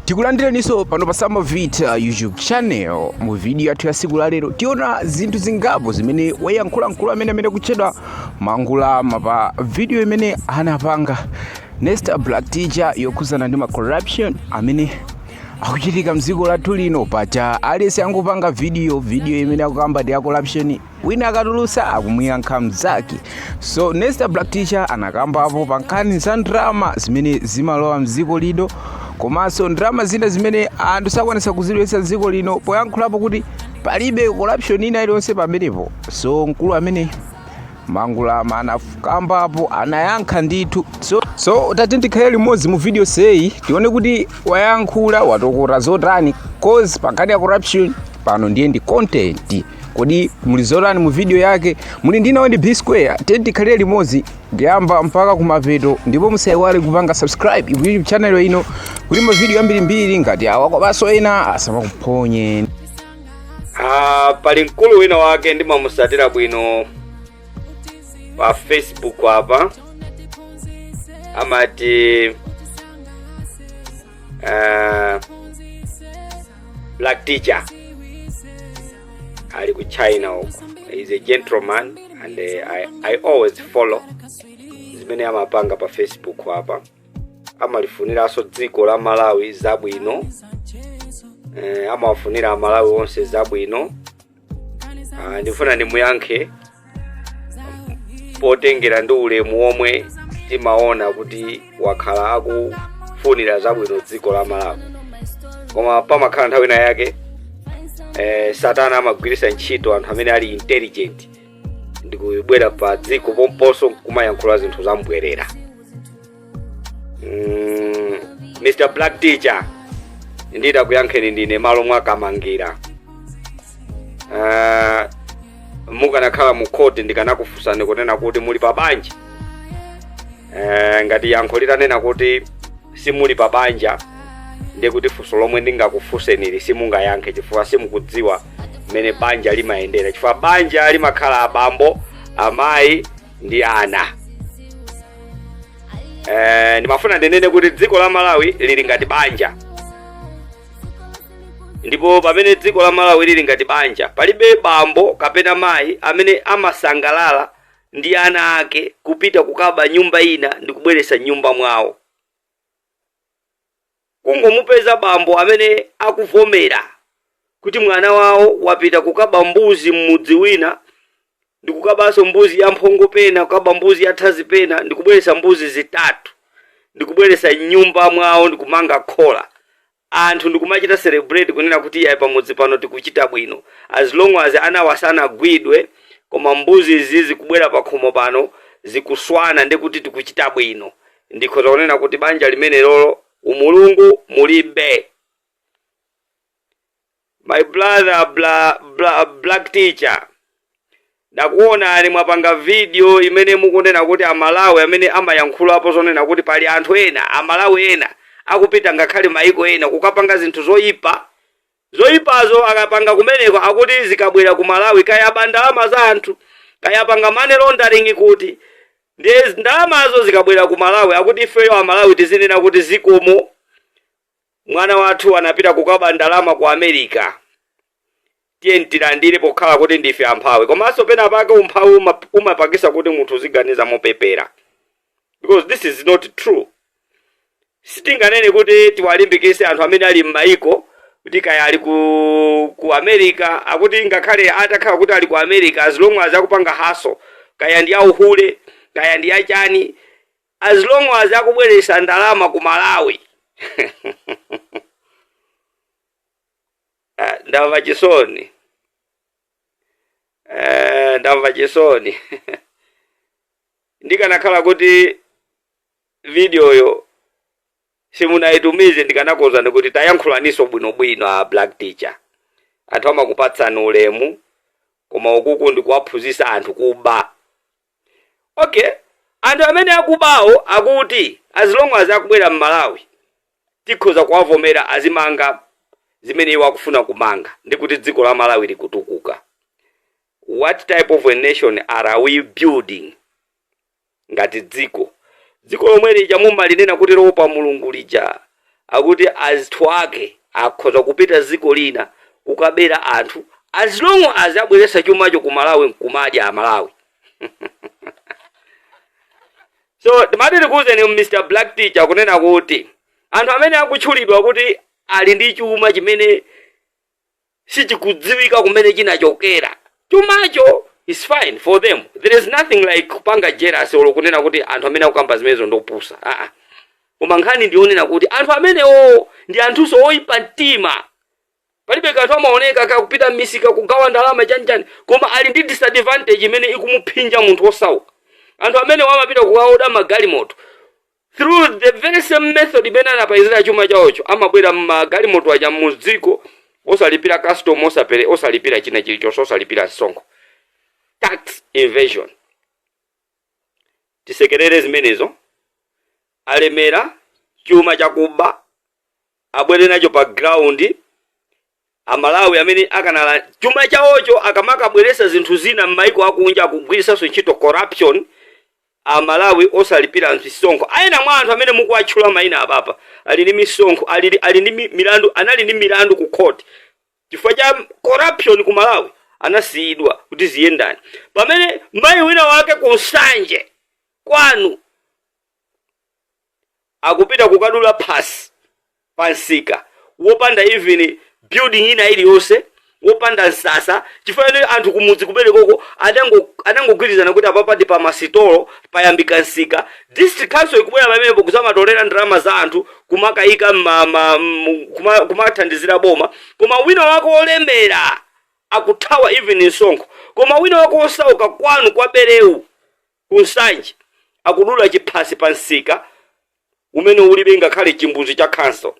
tikulandireninso pano pa samovita youtube channel mu video yathu ya siku la lero tiona zinthu zingapo zimene wayankhula mkulu ameneyo amene akutchedwa mangulama pa video imene anapanga nesta black teacher yokhuzana ndi ma corruption amene akuchitika mdziko lathu lino paja aliyense akungopanga video video imene akukamba ndi ya corruption wina akatulusa akumuyankha mzake so nesta black teacher anakambapo pa nkhani za ndrama zimene zimalowa mdziko lino komanso ndrama zina zimene anthu sakwanisa kuzilowetsa dziko lino poyankhulapo kuti palibe corruption ina iliyonse pamenepo so mkulu ameneyu mangulama anakambapo anayankha ndithu so, so tatiyeni tikhale limodzi mu video yonseyi tione kuti wayankhula watokota zotani cause pa nkhani ya corruption pano ndiye ndi content kodi muli zotani mu video yake muli ndinawo ndi b square tiyeni tikhalire limodzi kuyamba mpaka kumapeto ndipo musaiwale kupanga subscribe ku youtube channel ino kuti mavidiyo ambirimbiri ngati awa komanso ena asamakuphonye Ah, pali mkulu wina wake ndimamusatira bwino pa facebook apa amati uh, black teacher ali ku china uko he's a gentleman and uh, I, i always follow zimene amapanga pa facebook apa amalifuniranso dziko la malawi zabwino eh, amawafunira amalawi onse zabwino Ah, ndifuna ndimuyankhe potengera ndi ulemu womwe timaona kuti wakhala akufunira zabwino dziko la malawi koma pamakhala nthawi ina yake eh, satana amagwiritsa ntchito anthu amene ali intelligent ndikubwera pa dziko pomponso kumayankhula zinthu zambwerera Mm, mr black teacher nditakuyankhani ndine m'malo mwa a kamangira uh, mukanakhala mu court ndikanakufunsani kunena kuti muli pa banja uh, ngati yankho litanena kuti simuli pa banja ndiye kuti funso lomwe ndingakufunsenili simungayankhe chifukwa simukudziwa mmene banja limayendera chifukwa banja limakhala abambo amayi ndi ana eh, ndimafuna ndinene kuti dziko la malawi lili ngati banja ndipo pamene dziko la malawi lili ngati banja palibe bambo kapena mayi amene amasangalala ndi ana ake kupita kukaba mnyumba ina ndi kubweretsa mnyumba mwawo kungomupeza bambo amene akuvomera kuti mwana wawo wapita kukaba mbuzi m'mudzi wina ndikukabanso mbuzi ya mphongo pena kukaba mbuzi ya thazi pena ndikubweretsa mbuzi zitatu ndikubweretsa m'nyumba mwawo ndikumanga khola anthu ndikumachita celebrate kunena kuti iyayi pamudzi pano tikuchita bwino as long as anawo sanagwidwe koma mbuzi izi zikubwera pakhomo pano zikuswana ndekuti tikuchita bwino Ndikhoza kunena kuti banja limenelolo umulungu mulibe. My brother bla, bla, Black Teacher ndakuonani mwapanga video imene mukunena kuti amalawi amene amayankhula apo zonena kuti pali anthu ena amalawi ena akupita ngakhale maiko ena kukapanga zinthu zoyipa Zoipazo akapanga kumeneko akuti zikabwera ku Malawi kaya aba ndalama za anthu kaya apanga money laundering kuti ndiye ndalamazo zikabwera ku Malawi akuti ifeyo a Malawi tizinena kuti zikomo mwana wathu anapita kukaba ndalama ku America tiyeni tilandire pokhala kuti ndife amphawi komanso pena pake umphawi uma- umapangisa kuti munthu uziganiza mopepera because this is not true Sitinganene kuti tiwalimbikitse anthu amene ali m'mayiko kuti kaya ali ku, ku America akuti ngakhale atakhala kuti ali ku America as long as akupanga hustle kaya ndi ya uhule kaya ndi ya chani as long as akubweretsa ndalama ku Malawi Ah, ndamva chisoni Eh, ndamva chisoni ndikanakhala kuti videoyo simunaitumize ndikanakuuzani kuti tayankhulaninso bwinobwino a Black Teacher. Anthu amakupatsani ulemu koma ukuku ndikuwaphunzitsa anthu kuba. Okay, anthu amene akubawo akuti as long as akubwera m'Malawi tikhoza kuwavomera azimanga zimene iwo akufuna kumanga ndi kuti dziko la Malawi likutukuka. What type of a nation are we building? Ngati dziko, dziko lomwe lija mumalinena kuti loopa Mulungu lija, akuti anthu ake akhoza kupita dziko lina kukabera anthu as long as abweretsa chumacho ku Malawi nkumadya Amalawi so timati tikuuzeni Mr Black Teacher kunena kuti anthu amene akutchulidwa kuti ali ndi chuma chimene sichikudziwika kumene chinachokera chumacho is fine for them there is nothing like kupanga jealous olo kunena kuti anthu amene akukamba zimenezo ndopusa aa koma nkhani ndi yonena kuti anthu amenewo ndi anthunso oyipa mtima palibe kanthu amaoneka akupita m'misika kugawa ndalama chanichani koma ali ndi disadvantage imene ikumuphinja munthu osauka anthu amenewo amapita kukaoda magalimoto through the very same method imene anapezera chuma chawocho amabwera mmagalimoto aja mudziko osalipira custom osapere osalipira china chilichonse osalipira msonkho tax evasion tisekerere zimenezo alemera chuma chakuba abwere nacho pa ground Amalawi amene akanali chuma chaocho akamakabweresa zinthu zina mmaiko akunja akugwirisanso ntchito corruption amalawi osalipira misonkho ena mwa anthu amene mukuwatchula maina apapa ali ndi misonkho ali ali ndi mi- milandu anali ndi milandu ku court chifukwa cha corruption ku malawi anasiyidwa kuti ziyendani pamene mayi wina wake ku nsanje kwanu akupita kukadula phasi pa msika wopanda even building ina iliyonse wopanda msasa chifukwa choti anthu kumudzi kumenekoko adango- adangogwirizana kuti apapa ndi pa masitolo payambika msika district council ikubwera pamenepo kuzamatolera ndalama za anthu kumakayika mma- ma- mu- kuma- kumathandizira boma koma wina wake wolemera akuthawa even msonkho koma wina wake wosauka kwanu kwa berewu Ku Nsanje, akudula chiphasi pa msika umene ulibe ngakhale chimbudzi cha khansolo.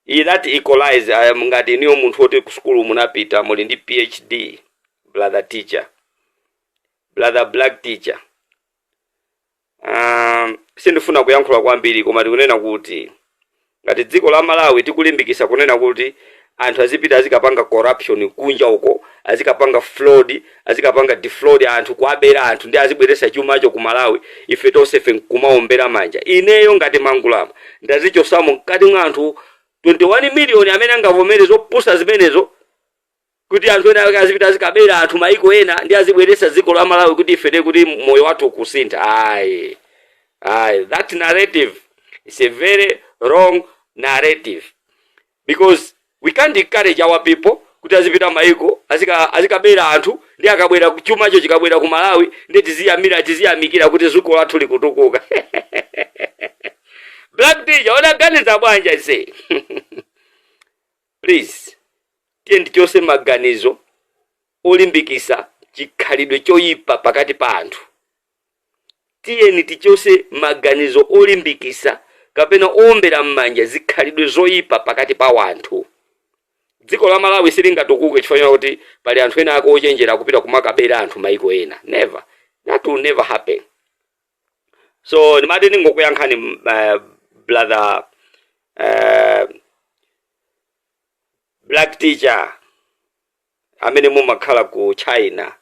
Iyi that equalize I am ngati inuyo munthu woti ku sukulu munapita muli ndi PhD brother teacher brother black teacher. Aaa sindifuna kuyankhula kwambiri koma tikunena kuti ngati dziko la Malawi tikulimbikisa kunena kuti anthu azipita azikapanga corruption kunja uko azikapanga fraud azikapanga defraud anthu kuwabera anthu ndi azibweresa chumacho ku Malawi ife tonsefe nkumaombera manja ineyo ngati Mangulama ndazichosamo mkati mwa anthu 21 million amene angavomere zopusa zimenezo kuti anthu ena ake azipita azikabera anthu maiko ena ndi azibweresa dziko la Malawi kuti ife ndiye kuti moyo wathu ukusintha ayi ayi that narrative is a very wrong narrative because we can't encourage our people kuti azipita maiko azika azikabera anthu ndi akabwera ku- chumacho chikabwera ku Malawi ndi tiziyamira tiziyamikira kuti dziko lathu likutukuka black teacher unaganiza bwanji aise Please tiyeni tichose maganizo olimbikisa chikhalidwe choyipa pakati pa anthu. Tiyeni tichose maganizo olimbikisa kapena oombera mmanja zikhalidwe zoyipa pakati pa wanthu. Dziko la Malawi silingatukuke chifukwa chonena kuti pali anthu ena ake ochenjera akupita kumakabera anthu mayiko ena. Never. That will never happen. so ndimati ndingokuyankhani brother Black Teacher amene mumakhala ku china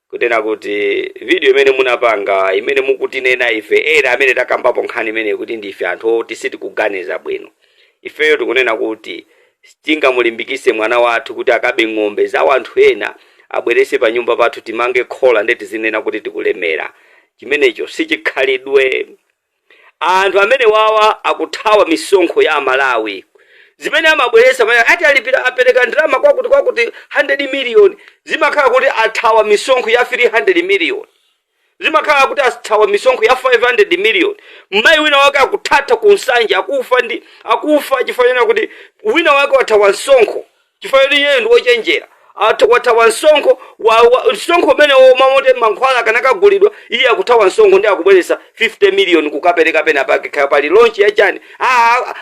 kutena kuti video imene munapanga imene mukutinena ife ena amene takambapo nkhani imeneyi kuti ndife anthu oti sitikuganiza bwino ifeyo tikunena kuti Sitingamulimbikise mwana wathu kuti akabe ng'ombe za wanthu ena abwerese panyumba pathu timange khola nde tizinena kuti tikulemera. Chimenecho sichikhalidwe. Anthu amenewawa akuthawa misonkho ya amalawi. Zimene amabweresa pamene ati alipira apereka ndalama kwakuti kwakuti 100 million zimakhala kuti athawa misonkho ya 300 million. Zimakhala kuti athawa misonkho ya 500 million, mmayi wina wake akuthatha ku Nsanje akufa chifukwa chonena kuti wina wake wathawa msonkho chifukwa choti iyeyo ndi ochenjera wathawa msonkho msonkho umene mmamoti mankhwala akanakagulidwa iye akuthawa msonkho ndi akubweresa 50 million kukapereka pena pake kaya pali launch ya chani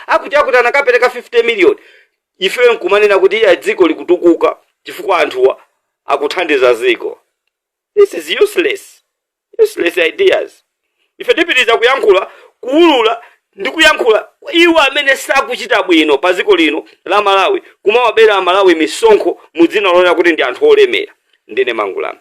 akuti akuti anakapereka 50 million ife nkumanena kuti iya dziko likutukuka chifukwa anthuwa akuthandiza dziko. This is useless, useless ideas. Ife tipitiriza kuyankhula, kuwulula ndi kuyankhula iwo amene sakuchita bwino pa dziko lino la Malawi, kumawabera a Malawi misonkho mu dzina lonena kuti ndi anthu olemera. Ndine Mangulama.